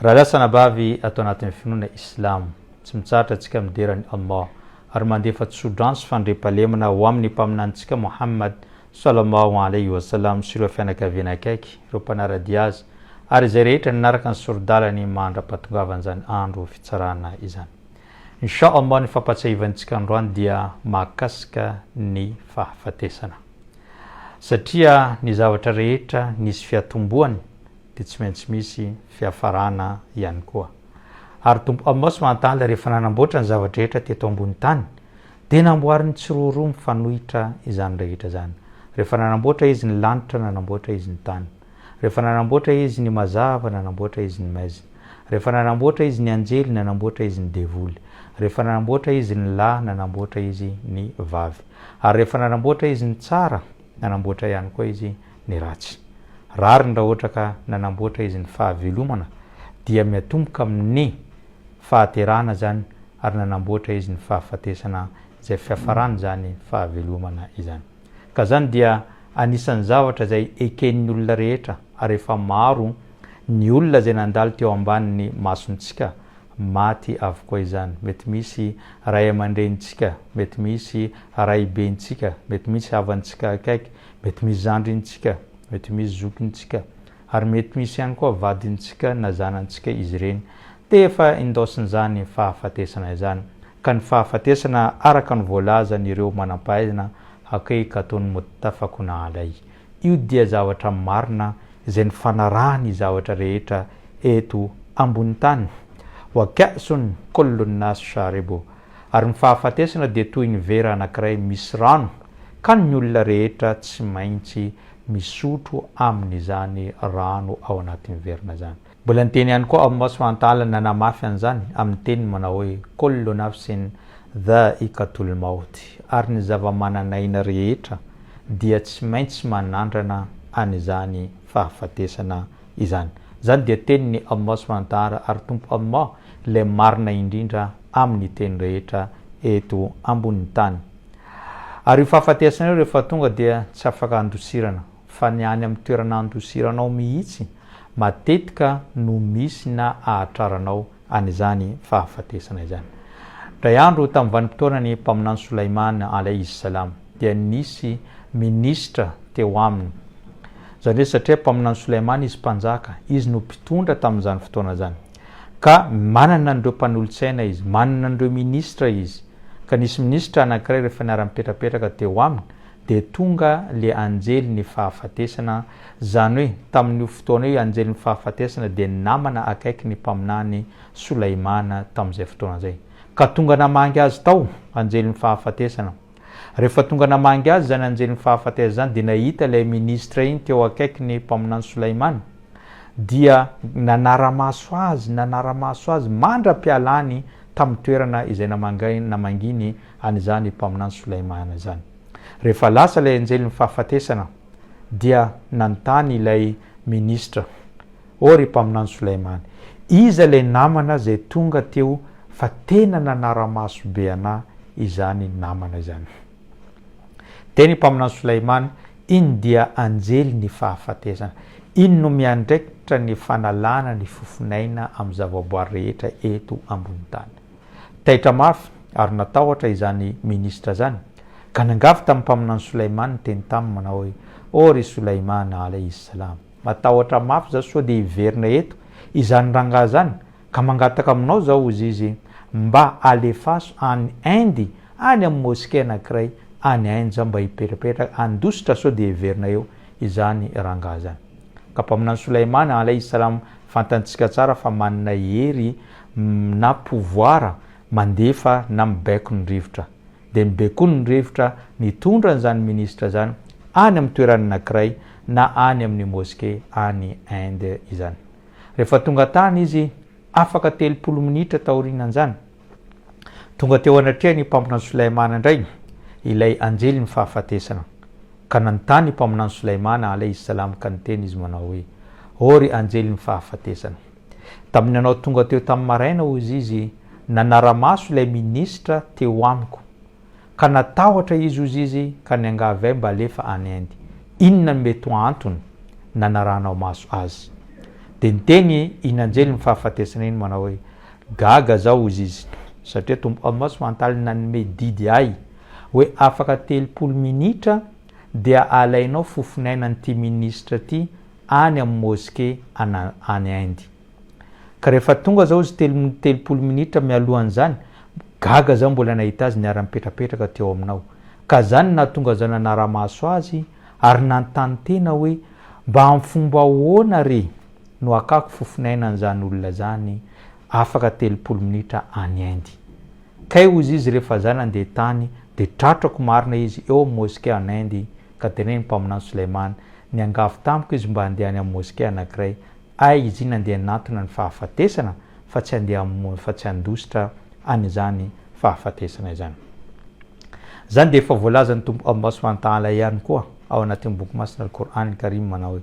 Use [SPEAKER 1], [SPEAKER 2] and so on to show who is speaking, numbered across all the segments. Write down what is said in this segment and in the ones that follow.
[SPEAKER 1] Raha lasa anabavy ato anatin'ny finoana Islamo, tsy mitsahatra antsika midera an'i Allah ary mandefa tso-drano sy fandriampahalemana ho amin'ny Mpaminanintsika Mohamad, Sallallahu Alayhi wa Sallam, sy ireo fianakaviany akaiky, ireo mpanara-dia azy, ary izay rehetra nanaraka ny sori-dalany mandra-pahatongavan'izany andro fitsarana izany. Insha Allah ny fampahatsiahivantsika androany dia mahakasika ny fahafatesana. Satria ny zavatra rehetra nisy fiatombohany, dia tsy maintsy misy fiafarana ihany koa. Ary Tompo Amos Mahantala rehefa nanamboatra ny zava-drehetra teto ambony tany dia namboariny tsiroaroa mifanohitra izany rehetra izany. Rehefa nanamboatra Izy ny lanitra, nanamboatra Izy ny tany. Rehefa nanamboatra Izy ny mazava, nanamboatra Izy ny maizina. Rehefa nanamboatra Izy ny anjely, nanamboatra Izy ny devoly. Rehefa nanamboatra Izy ny lahy, nanamboatra Izy ny vavy. Ary rehefa nanamboatra Izy ny tsara, nanamboatra ihany koa Izy ny ratsy. Rariny raha ohatra ka nanamboatra izy ny fahavelomana dia miatomboka amin ny fahaterahana izany ary nanamboatra izy ny fahafatesana izay fiafaran izany fahavelomana izany. Ka izany dia anisan ny zavatra izay eken ny olona rehetra ary efa maro ny olona izay nandalo teo ambanin ny masontsika maty avokoa izany. Mety misy ray aman-drenintsika, mety misy raibentsika, mety misy havantsika akaiky, Mety misy zandrintsika, mety misy zokintsika, ary mety misy ihany koa vadintsika na zanantsika izy ireny. Dia efa indaosin'izany fahafatesana izany. Ka ny fahafatesana, araka ny voalazan'ireo manam-pahaizana, hakaiky ataon'i Muttafaq na Alayh. Io dia zavatra marina izay nifanarahan'ny zavatra rehetra eto ambonin'ny tany. Wa ka'sun kullu an-nas sharibuh. ary ny fahafatesana dia toy ny vera anankiray misy rano ka ny olona rehetra tsy maintsy misotro amin'izany rano ao anatin'ny verina izany. Mbola niteny ihany koa aho Moswa Antala nanamafy an'izany amin'ny teniny manao hoe Kollo nafsin dha'iqatul maut, ary ny zava-manan'aina rehetra dia tsy maintsy manandrana an'izany fahafatesana izany. Izany dia tenin'i Allah Subhanahu wa Ta'ala, ary Tompo Allah Ilay Marina indrindra amin'ny teny rehetra eto ambonin'ny tany. Ary io fahafatesana io rehefa tonga dia tsy afaka handosirana, fa ny any amin'ny toerana handosiranao mihitsy matetika no misy na ahatraranao an'izany fahafatesana izany. Indray andro tamin'ny vanim-potoanan'i Mpaminany Soulaiman, alayhi s-salam, dia nisy minisitra teo aminy. Izany hoe satria Mpaminany Soulaiman izy mpanjaka, izy no mpitondra tamin'izany fotoana izany. Ka manana an'ireo mpanolotsaina izy, manana an'ireo minisitra izy, ka nisy minisitra anankiray rehefa niara-nipetrapetraka teo aminy dia tonga ilay anjelin'ny fahafatesana, izany hoe tamin'io fotoana io anjelin'ny fahafatesana dia namana akaiky ny mpaminany Solaimana tamin'izay fotoana izay, ka tonga namangy azy tao anjelin'ny fahafatesana. Rehefa tonga namangy azy izany anjelin'ny fahafatesana izany dia nahita ilay ministra iny teo akaikiny mpaminany Solaimana dia nanara-maso azy nanara-maso azy mandra-pialany tamin'ny toerana izay namangainy namanginy an'izany mpaminany Solaimana izany. Rehefa lasa ilay anjelin'ny fahafatesana dia nanontany ilay ministra Ô ry Mpaminany Solaimany, iza ilay namana izay tonga teo fa tena nanara-maso be anà izany namana izany? Dia ny Mpaminany Solaimany, Iny dia anjely ny fahafatesana. Iny no miandraikitra ny fanalana ny fofon'aina amin'ny zavaboary rehetra eto ambony tany. Taitra mafy ary natahotra izany minisitra izany, ka nangavy tamin'ny Mpaminany Solaimany niteny taminy manao hoe, Ô ry Solaimana, alaihi salam, Matahotra mafy za sao dia hiverina eto izany rangahy zany ka mangataka aminao za ozy izy mba alefaso any Inde any amin'ny mosquée anakiray any Inde za mba hipetrapetraka handositra sao dia hiverina eo izany rangahy zany ka mpaminany Solaimana alaihi salam fantantsika tsara fa manana hery na pouvoir mandefa na mibaiko ny rivotra dia mibe koa ny rivotra nitondra an'izany minisitra izany any amin'ny toerana anankiray na any amin'ny moske any Inde izany. Rehefa tonga tany izy, afaka telopolo minitra taorianan'izany, tonga teo anatrehan'I Mpaminany Sulaimana indray ilay anjelin'ny fahafatesana, ka nanontany I Mpaminany Sulaimana alaihi salam ka niteny izy manao hoe, Ô ry anjelin'ny fahafatesana! Tamin'ny nanao tonga teo tamin'ny maraina, hozy izy, nanara-maso ilay minisitra teo amiko. Ka natahotra izy, hozy izy, ka niangavy ahy mba alefa any Inde. Inona no mety ho antony nanaranao maso azy? Dia niteny in'anjelin'ny fahafatesana iny manao hoe, Gaga zaho, hozy izy, satria Tompo Allah Subhanahu-wa-Ta'ala nanome didy ahy hoe afaka telopolo minitra dia alainao fofon'ainan'ity minisitra ity any amin'ny moske ana any Inde. Ka rehefa tonga zao izy telo minitra telopolo minitra mialohan'izany, gaga za mbola nahita azy niara-nipetrapetraka teo aminao. Ka zany no nahatonga za nanara-maso azy ary nanontany tena hoe mba amin'ny fomba ahoana re no hakako fofon'aina an'izany olona izany afaka telopolo minitra any Inde. Kay hozy izy rehefa za nandeha tany dia tratrako marina izy eo amin'ny moske any Inde Ka teneno ny mpaminany Soleimany, Niangavy tamiko izy mba handeha any amin'ny moskea anankiray. Hay izy iny handeha hanantona ny fahafatesana fa tsy handeha hamono fa tsy handositra an'izany fahafatesana izany. Izany dia efa voalazan'ny Tompo Allah Subhanahu wa Ta'ala ihany koa ao anatin'ny Boky Masina Al-Qur'an Al-Karim manao hoe,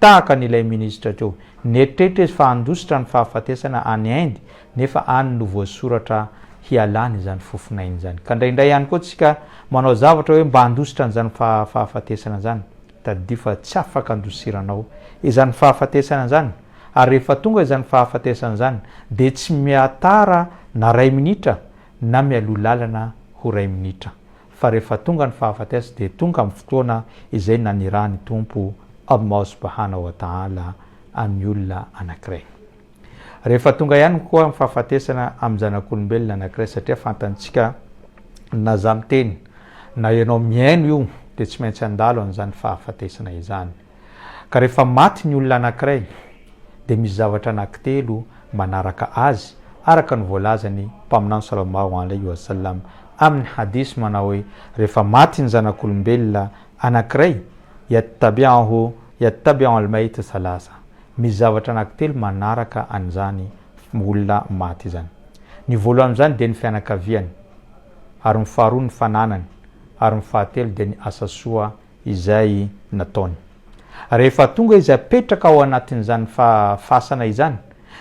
[SPEAKER 1] Tahaka ny ilay minisitra teo, nieritreritra izy fa handositra ny fahafatesana any Inde nefa any no voasoratra hialany izany fofonainy izany. Ka indraindray ihany koa tsika manao zavatra hoe mba handositra an'izany fahafatesana izany, tadidio fa tsy afaka andosiranao izany fahafatesana izany ary rehefa tonga izany fahafatesana izany dia tsy mihatara na ray minitra na mialoha lalana ho ray minitra fa rehefa tonga ny fahafatesana dia tonga amin'ny fotoana izay nanirahan'ny Tompo, Allah Subhana wa Ta'ala, an'ny olona anankiray. Rehefa tonga ihany koa ny fahafatesana amin'ny zanak'olombelona anankiray satria fantantsika na za miteny na ianao mihaino io dia tsy maintsy handalo an'izany fahafatesana izany. Ka rehefa maty ny olona anankiray dia misy zavatra anankitelo manaraka azy araka ny voalazan'ny Mpaminany Sallallahu Alaihi Wasallam amin'ny Hadith manao hoe, rehefa maty ny zanak'olombelona anankiray, Yattabi'uhu yattabi'u al-mayt thalatha, misy zavatra anankitelo manaraka an'izany olona maty izany. Ny voalohany amin'izany dia ny fianakaviany, ary ny faharoa ny fananany, ary ny fahatelo dia ny asa soa izay nataony. Rehefa tonga izy hapetraka ao anatin'izany fasana izany,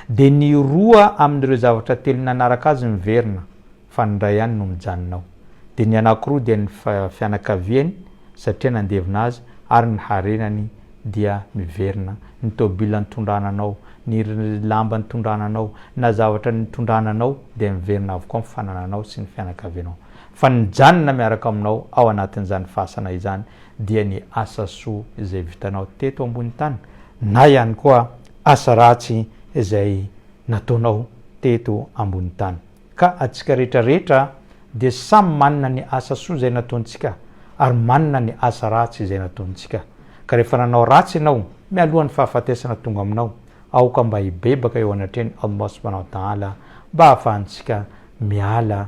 [SPEAKER 1] dia ny roa amin'ireo zavatra telo nanaraka azy miverina, fa ny iray ihany no mijanona ao. Dia ny anankiroa dia ny fianakaviany, satria nandevina azy, ary ny harenany dia miverina. Ny tôbila nitondrana anao, ny lamba nitondrana anao, na zavatra nitondrana anao dia miverina avokoa amin'ny fanananao sy ny fianakavianao. Fa ny mijanona miaraka aminao ao anatin'izany fasana izany dia ny asa soa izay vitanao teto ambony tany na ihany koa asa ratsy izay nataonao teto ambony tany. Ka antsika rehetra rehetra dia samy manana ny asa soa izay nataontsika ary manana ny asa ratsy izay nataontsika. Ka rehefa nanao ratsy ianao mialohan'ny fahafatesana tonga aminao, aoka mba hibebaka eo anatrehan'i Allah Subhanahu wa Ta'ala mba hahafahantsika miala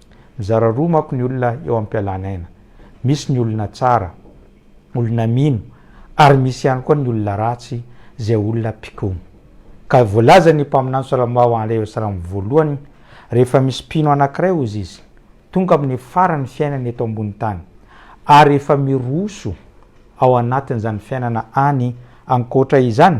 [SPEAKER 1] Mizara roa manko ny olona eo am-pialana aina. Misy ny olona tsara, olona mino, ary misy ihany koa ny olona ratsy, izay olona mpikomy. Ka voalazan' ny mpaminany Solomao ao Andr. Esdras voalohany, Rehefa misy mpino anankiray, hozy izy, tonga amin' ny faran' ny fiainany eto ambonin' tany, ary efa miroso ao anatin' izany fiainana any, ankoatra izany,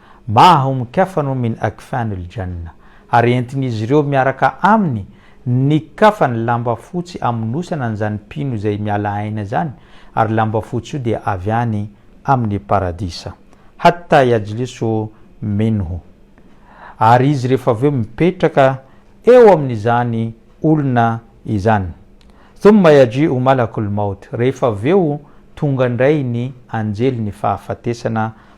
[SPEAKER 1] Maha omin-kafa anao Min Akfan ul Janna, ary entin'izy ireo miaraka aminy ny kafany lamba fotsy amonosana an'izany mpino izay miala aina izany, ary lamba fotsy io dia avy any amin'ny Paradisa. Hatta yajlisu minhu. Ary izy rehefa avy eo mipetraka eo amin'izany olona izany. Thumma yaji'u malakul maut, rehefa avy eo tonga indray ny anjelin'ny fahafatesana,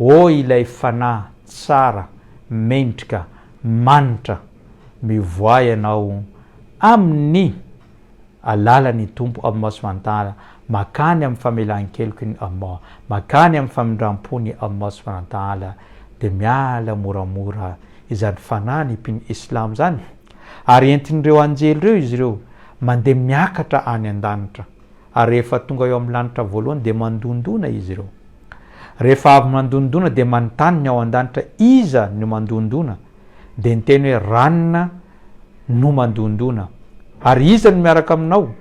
[SPEAKER 1] Oh ilay fanahy tsara mendrika manitra mivoaha ianao amin'ny alalan'ny Tompo amin'ny masoifanantahana makany amin'ny famelan-keloky ny Allah makany amin'ny famindrampony amin'ny masoifanantahana dia miala moramora izany fanahy ny mpino Islam izany ary entin'ireo anjely ireo izy ireo mandeha miakatra any an-danitra Ary rehefa tonga eo amin'ny lanitra voalohany dia mandondona izy ireo. Rehefa avy mandondona dia manontany ny ao an-danitra iza no mandondona, dia niteny hoe ranona no mandondona. Ary iza no miaraka aminao?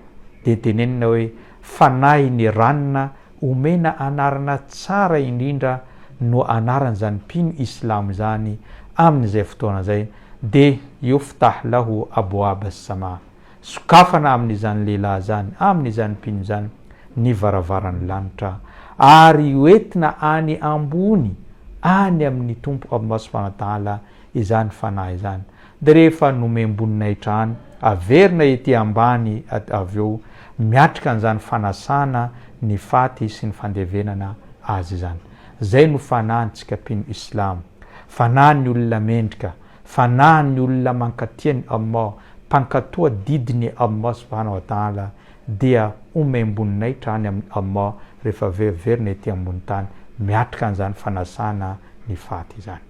[SPEAKER 1] Dia tenenina hoe fanahy ny ranona omena anarana tsara indrindra no anaran'izany mpino islamo izany amin'izay fotoana izay dia yuftahllahu abwab as-samaa. Sokafana amin'izany lehilahy izany, amin'izany mpino izany, ny varavaran'ny lanitra, ary hoentina any ambony, any amin'ny Tompo Aboma Subhanahu wa Ta'ala, izany fanahy izany. Dia rehefa nomem-boninahitra any, averina ety ambany avy eo, miatrika an'izany fanasana ny faty sy ny fandevenana azy izany. Izay no fanahintsika mpino Islamo. Fanahin'ny olona mendrika. Fanahin' ny olona mankatia ny Allah, mpankatò adidy ny Allah subhana wa ta'ala, dia omaim-boninahitra any amin' Allah rehefa veriverina ety ambonin'ny tany miatrika an'izany fanasana ny faty izany.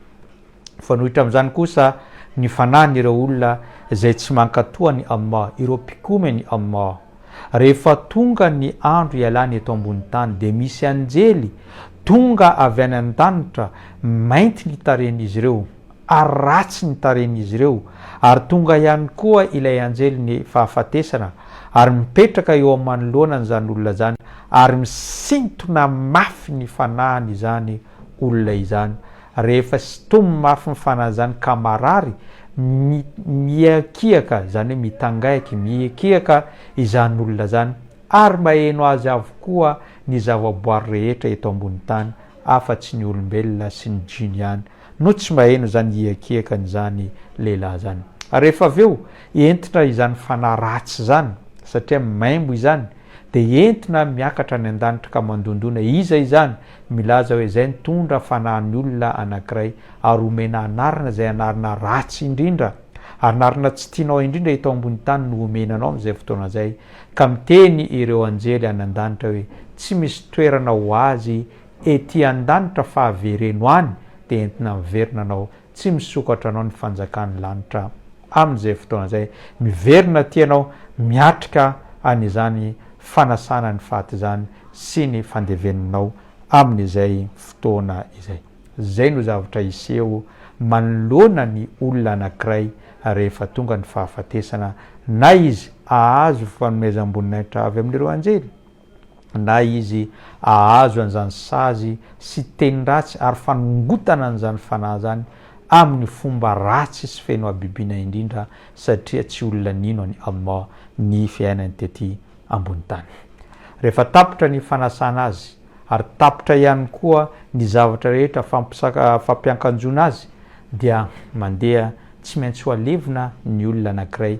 [SPEAKER 1] Mifanohitra amin'izany kosa ny fanahin' ireo olona izay tsy mankatò an' i Allah, ireo mpikomy an' i Allah. Rehefa tonga ny andro hialany eto ambonin'ny tany dia misy anjely tonga avy any an-danitra, mainty ny tarehin'izy ireo, ary ratsy ny tarehin'izy ireo, ary tonga ihany koa ilay anjelin'ny fahafatesana ary mipetraka eo amin'ny manoloana an'izany olona izany ary misintona mafy ny fanahiny izany olona izany, rehefa sintominy mafy ny fanahiny izany ka marary, mi, mihiakiaka, izany hoe mitangaiky, mihiakiaka izany olona izany, ary maheno azy avokoa ny zavaboary rehetra eto ambony tany afa-tsy ny olombelona sy ny jiny ihany. no tsy mba heno izany hiakiakan izany lehilahy izany ary rehefa avy eo entina izany fanahy ratsy izany satria maimbo izany dia entina miakatra any andanitra ka mandondona iza izany milaza hoe izay nitondra fanahy ny olona anakiray ary omena anarana izay anarana ratsy indrindra ary narina tsy tianao indrindra eto ambony tany no omena anao amin'izay fotoana izay ka miteny ireo anjely any andanitra hoe tsy misy toerana ho azy ety an-danitra fa avereno any dia entina miverina anao tsy misokatra anao ny fanjakan'ny lanitra amin'izay fotoana izay miverina aty ianao miatrika an'izany fanasana ny faty izany sy ny fandevenanao amin'izay fotoana izay izay no zavatra hiseho manoloana ny olona anankiray rehefa tonga ny fahafatesana na izy ahazo fanomezam-boninahitra avy amin'ireo anjely na izy ahazo an'izany sazy sy teny ratsy ary fanongotana an'izany fanahy izany amin'ny fomba ratsy sy feno habibiana indrindra satria tsy olona nino an'i Allah ny fiainany tety ambony tany. Rehefa tapitra ny fanasana azy ary tapitra ihany koa ny zavatra rehetra fampiankanjoana azy dia mandeha tsy maintsy ho alevina ny olona anankiray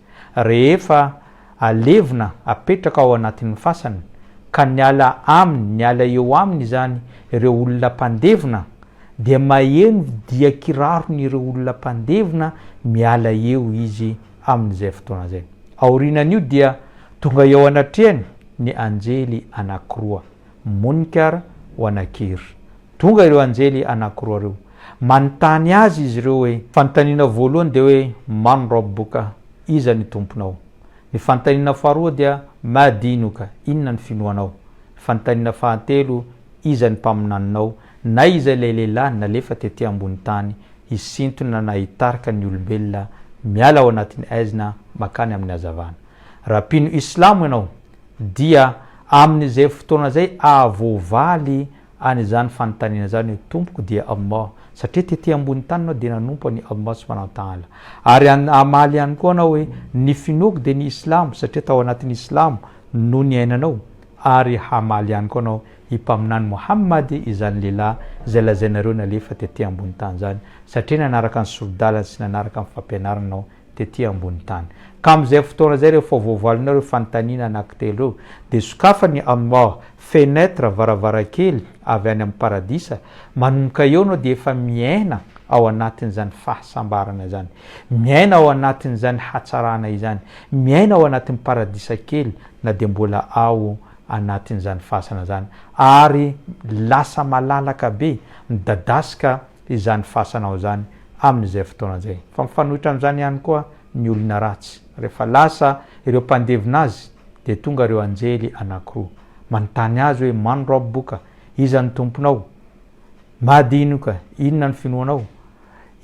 [SPEAKER 1] rehefa alevina apetraka ao anatin'ny fasany ka niala aminy niala eo aminy izany ireo olona mpandevina dia maheno dia kiraron'ireo olona mpandevina miala eo izy amin'izay fotoana izay. Aorianan'io dia tonga eo anatrehany ny anjely anankiroa, Munkar wa Nakir, Tonga ireo anjely anankiroa ireo. Manontany Azy izy ireo hoe. Fanontaniana voalohany dia hoe, Man Rabbuka? Iza ny Tomponao? Ny fanontaniana faharoa dia, Ma Dinuka? Inona ny finoanao? Ny fanontaniana fahatelo, Iza ny mpaminaninao? Na iza ilay lehilahy nalefa tety ambony tany hisintona na hitarika ny olombelona miala ao anatin'ny haizina makany amin'ny hazavana. Raha mpino Islamo ianao, dia amin'izay fotoana izay ahavoavaly Any izany fanontaniana izany hoe Tompoko dia Allah, satria tety ambony tany ianao dia nanompo an'i Allah subhanahu wa ta'ala. Ary hamaly ihany koa anao hoe ny finoako dia ny Islamo, satria tao anatin'ny Islamo no niainanao, ary hamaly ihany koa anao i Mpaminany Mohamady izany lehilahy izay lazainareo nalefa tety ambony tany izany, satria nanaraka ny sori-dalany sy nanaraka ny fampianarany ianao, tety ambony tany. Ka amin'izay fotoana izay rehefa voavalinao ireo fanontaniana anankitelo ireo, dia sokafa ny Amor, fenêtre, varavarankely, avy any amin'ny Paradisa, manomboka eo ianao dia efa miaina ao anatin'izany fahasambarana izany, miaina ao anatin'izany hatsarana izany, miaina ao anatin'ny Paradisa kely na dia mbola ao anatin'izany fasana izany, ary lasa malalaka be, midadasika izany fasanao izany amin'izay fotoana izay. Fa mifanohitra amin'izany ihany koa ny olona ratsy. Rehefa lasa ireo mpandevina azy, dia tonga ireo anjely anankiroa. Manontany azy hoe, Man Rabbuka? Iza ny Tomponao? Ma dinuka? Inona ny finoanao?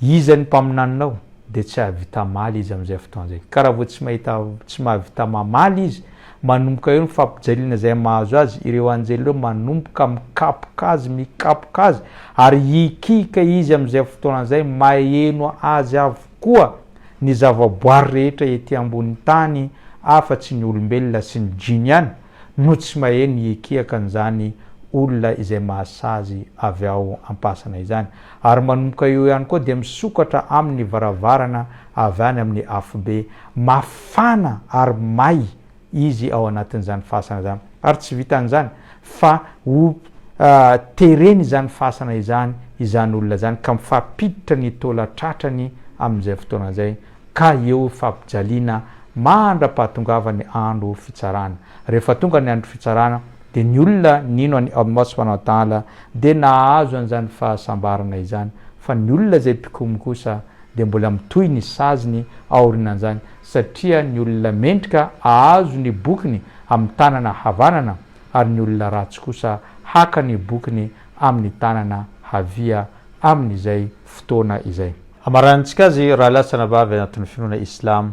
[SPEAKER 1] Iza ny mpaminaninao? Dia tsy hahavita mamaly izy amin'izay fotoana izay. Ka raha vao tsy mahita, tsy mahavita mamaly izy, Manomboka eo ny fampijaliana izay mahazo azy, ireo anjely ireo manomboka mikapoka azy, mikapoka azy, ary hikihika izy amin'izay fotoana izay, maheno azy avokoa ny zavaboary rehetra ety ambonin'ny tany afa-tsy ny olombelona sy ny Jiny ihany no tsy maheno hikihaka an'izany olona izay mahasazy avy ao am-pasana izany. Ary manomboka eo ihany koa dia misokatra aminy ny varavarana avy any amin'ny afobe. Mafana ary may izy ao anatin'izany fasana izany. Ary tsy vitan'izany fa ho tereny izany fasana izany izany olona izany ka mifampiditra ny taola tratrany amin'izay fotoana izay ka eo fampijaliana mandra-pahatongavany andro fitsarana. Rehefa tonga ny andro fitsarana, Dia ny olona nino an'i Allah subhanahu wa ta'ala dia nahazo an'izany fahasambarana izany, fa ny olona izay mpikomy kosa dia mbola mitohy ny saziny aorinan'izany, satria ny olona mendrika ahazo ny bokiny amin'ny tanana havanana, ary ny olona ratsy kosa haka ny bokiny amin'ny tanana havia amin'izay fotoana izay. Amaranintsika azy raha lahy sy anabavy anatin'ny finoana islamo,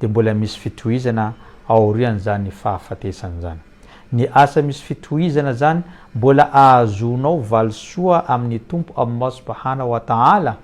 [SPEAKER 1] dia mbola misy fitohizana aorian'izany fahafatesana izany. Ny asa misy fitohizana izany mbola ahazoanao valisoa amin'ny Tompo Allah Subhana wa Ta'ala,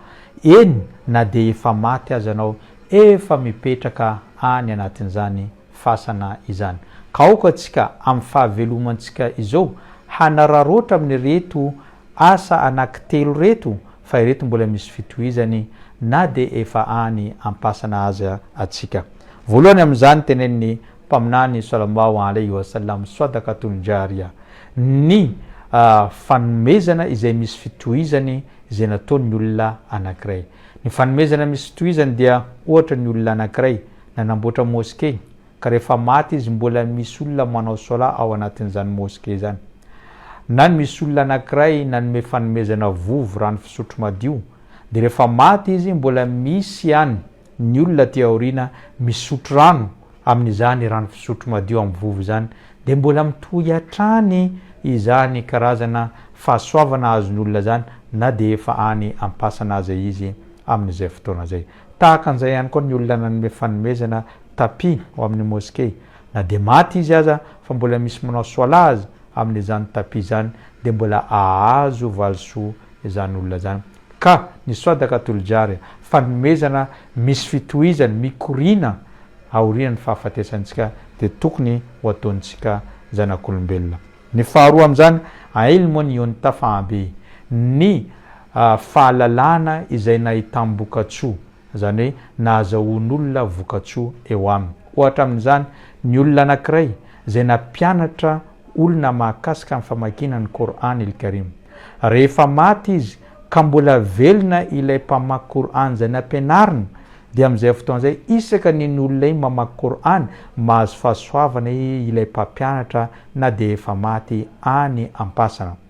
[SPEAKER 1] eny na dia efa maty aza anao efa mipetraka any anatin'izany fasana izany. Ka aoka tsika amin'ny fahavelomantsika izao hanararaotra amin'ireto Asa anaky telo reto fa ireto mbola misy fitohizany na dia efa any ampasana aza atsika. Voalohany amin'izany tenenin'ny Mpaminany Salamau alaihi wa sallam, Swadaqatun Jariyah, ny fanomezana izay misy fitohizany izay nataon'ny olona anakiray. Ny fanomezana misy fitohizany dia ohatra ny olona anakiray nanamboatra mosquée ka rehefa maty izy mbola misy olona manao solat ao anatin'izany mosquée izany. Na ny misy olona anankiray nanome fanomezana vovo rano fisotro madio dia rehefa maty izy mbola misy ihany ny olona aty aoriana misotro rano amin'izany rano fisotro madio amin'ny vovo izany dia mbola mitohy hatrany izany karazana fahasoavana azon'olona izany na dia efa any am-pasana aza izy amin'izay fotoana izay. Tahaka an'izay ihany koa ny olona nanome fanomezana tapis ho amin'ny moske, na dia maty izy aza fa mbola misy manao soalah aza amin'izany tapis izany dia mbola ahazo valisoa izany olona izany. Ka ny swadaka toljarya, fanomezana misy fitohizany, mikoriana aorian'ny fahafatesantsika dia tokony ho ataontsika zanak'olombelona. Ny faharoa amin'izany, ailmun yuntafa bihi, ny. fahalalana izay nahitam-bokatsoa, izany hoe nahazahoan'olona vokatsoa eo aminy. Ohatra amin'izany ny olona anankiray izay nampianatra olona mahakasika ny famakiana ny Qour'an il-Karim. Rehefa maty izy ka mbola velona ilay mpamaky Qour'an izay nampianarina dia amin'izay fotoana izay isaka ny ny olonay mamaky Qour'an mahazo fahasoavana ilay mpampianatra na dia efa maty any am-pasana.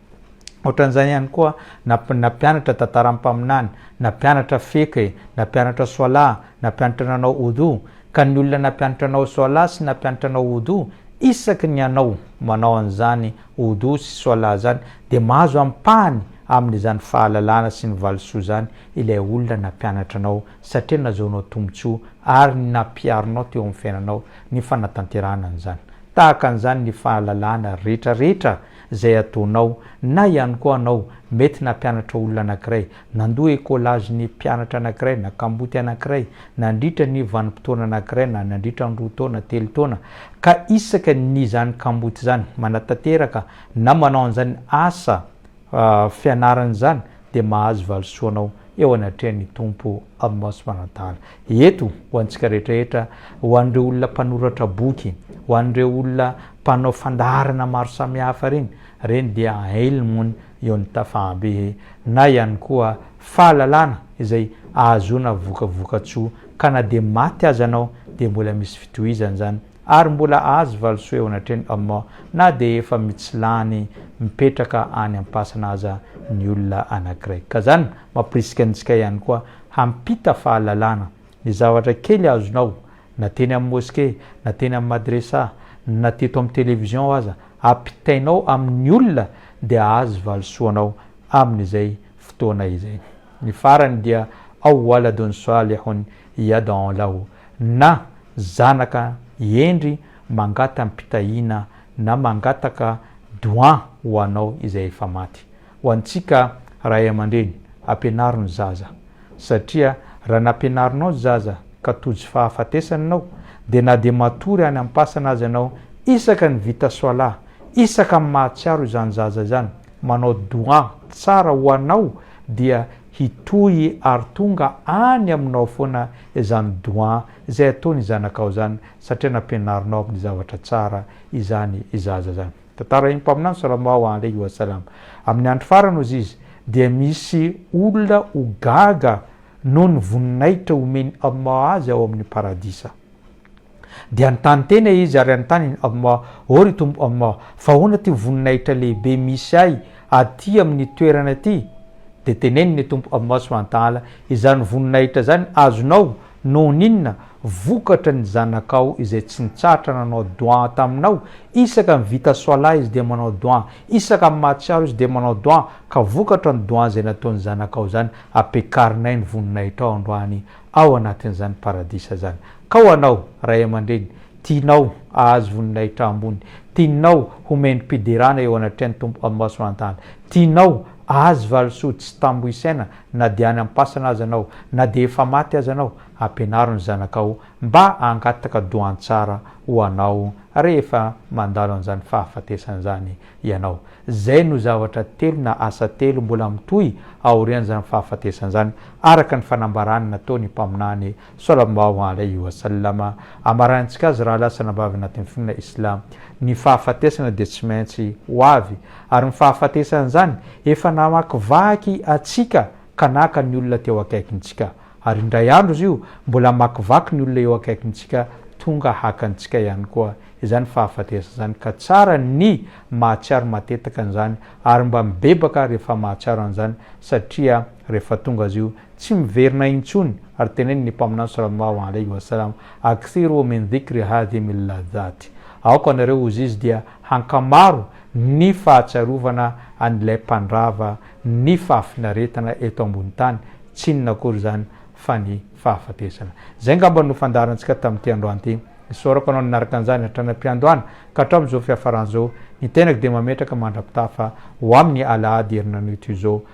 [SPEAKER 1] Ohatran'izany ihany koa na nampianatra tantaran'ny mpaminany, nampianatra fiqh e, nampianatra swala, nampianatra nanao oudou, ka ny olona nampianatra anao swala sy nampianatra anao oudou, isaky ny anao manao an'izany oudou sy swala izany dia mahazo ampahany amin'izany fahalalana sy ny valisoa izany ilay olona nampianatra anao satria nazaonao tombotsoa ary nampiharinao teo amin'ny fiainanao ny fanatanterahana an'izany. Tahaka an'izany ny fahalalana rehetra rehetra izay ataonao, na ihany koa anao mety nampianatra olona anankiray, nandoa écolage ny mpianatra anankiray na kamboty anankiray nandritra ny vanim-potoana anankiray na nandritra ny roa taona, telo taona, ka isaka ny izany kamboty izany manatanteraka na manao an'izany asa fianarana izany dia mahazo valisoa anao eo anatrehan'ny Tompo Allah subhanahu wa ta'ala. Eto ho antsika rehetra rehetra, ho an'ireo olona mpanoratra boky, ho an'ireo olona mpanao fandaharana maro samihafa ireny, ireny dia ailmony eo ny tafahabe na ihany koa fahalalana izay ahazoana vokavoka-tsoa ka na dia maty aza anao dia mbola misy fitohizany izany ary mbola azo valisoa eo anatrehan'i Allah na dia efa mitsilany mipetraka any am-pasana aza ny olona anankiray. Ka izany mampirisika antsika ihany koa hampita fahalalana. Ny zavatra kely azonao, na teny amin'ny moskey, na teny amin'ny madresa, na teto amin'ny television aza, ampitainao amin'ny olona dia hahazo valisoanao amin'izay fotoana izay. Ny farany dia Aw waladun salihun yad'u lahu, na zanaka hendry mangatam-pitahiana na mangataka doua ho anao izay efa maty. Ho antsika ray aman-dreny, ampianaro ny zaza. Satria raha nampianarinao ny zaza ka tojo fahafatesana ianao, dia na dia matory any am-pasana aza ianao, isaka ny vita soalà, isaka ny mahatsiaro izany zaza izany, manao doua tsara ho anao dia hitohy ary tonga any aminao foana izany doua izay ataon'ny zanakao izany satria nampianarinao amin'ny zavatra tsara izany zaza izany. Tantara eny mpaminany Salama wa aleyhi wa salam Amin'ny andro farany ozy izy dia misy olona ho gaga noho ny voninahitra omen'i Allah azy ao amin'ny paradisa. Dia nitany tena izy ary anontaniny Allah, O ry Tompo Allah, fa ahoana ity voninahitra lehibe misy ahy aty amin'ny toerana aty? Dia teneniny Tompo Allah subhanahu wa ta'ala, Izany voninahitra izany azonao, Noho ny inona? Vokatry ny zanakao izay tsy nitsahatra nanao dua taminao, isaka mivita swala izy dia manao dua, isaka mahatsiaro izy dia manao dua, ka vokatra ny dua izay nataon'ny zanakao izany ampekarinay ny voninahitrao androany ao anatin'izany paradisa izany. Ka ho anao ray aman-dreny, tianao ahazo voninahitra ambony, tianao ho mendri-piderana eo anatrehan'ny Tompo Allah Subhanahu wa Ta'ala, tianao ahazo valisoa tsy tambo isaina, na dia any am-pasana aza anao, na dia efa maty aza anao, ampianaro ny zanakao mba hangataka dohan-tsara ho anao rehefa mandalo an'izany fahafatesana izany ianao. Izay no zavatra telo na asa telo mbola mitohy aorian'izany fahafatesana izany, araka ny fanambarany nataony mpaminany Salambaho Alaihi Wasallama, amarahintsika azy raha lasa nambavy anatin'ny finoana Islam. Ny fahafatesana dia tsy maintsy ho avy, ary ny fahafatesan'izany efa namakivaky antsika ka naka ny olona teo akaikintsika, ary indray andro izy io mbola hamakivaky ny olona eo akaikintsika tonga haka antsika ihany koa izany fahafatesana izany ka tsara ny mahatsiaro matetaka an'izany ary mba mibebaka rehefa mahatsiaro an'izany satria rehefa tonga azy io Tsy miverina intsony ary teneniny ny Mpaminany Salallahu alaihi wa sallam, Akthiru min dhikri hadhimi l-ladhat, Aoka anareo, hozy Izy, dia hankamaro ny fahatsiarovana an'ilay mpandrava ny fahafinaretana eto ambony tany, tsy inona akory izany fa ny fahafatesana. Izay angamba no fandaharantsika tamin'ity androany ity. Isaorako Anao nanaraka an'izany hatrany am-piandohana ka hatramin'ny izao fiafarany izao. Ny tenako dia mametraka mandra-pitafa ho amin'ny Alahady herinan'io toy izao.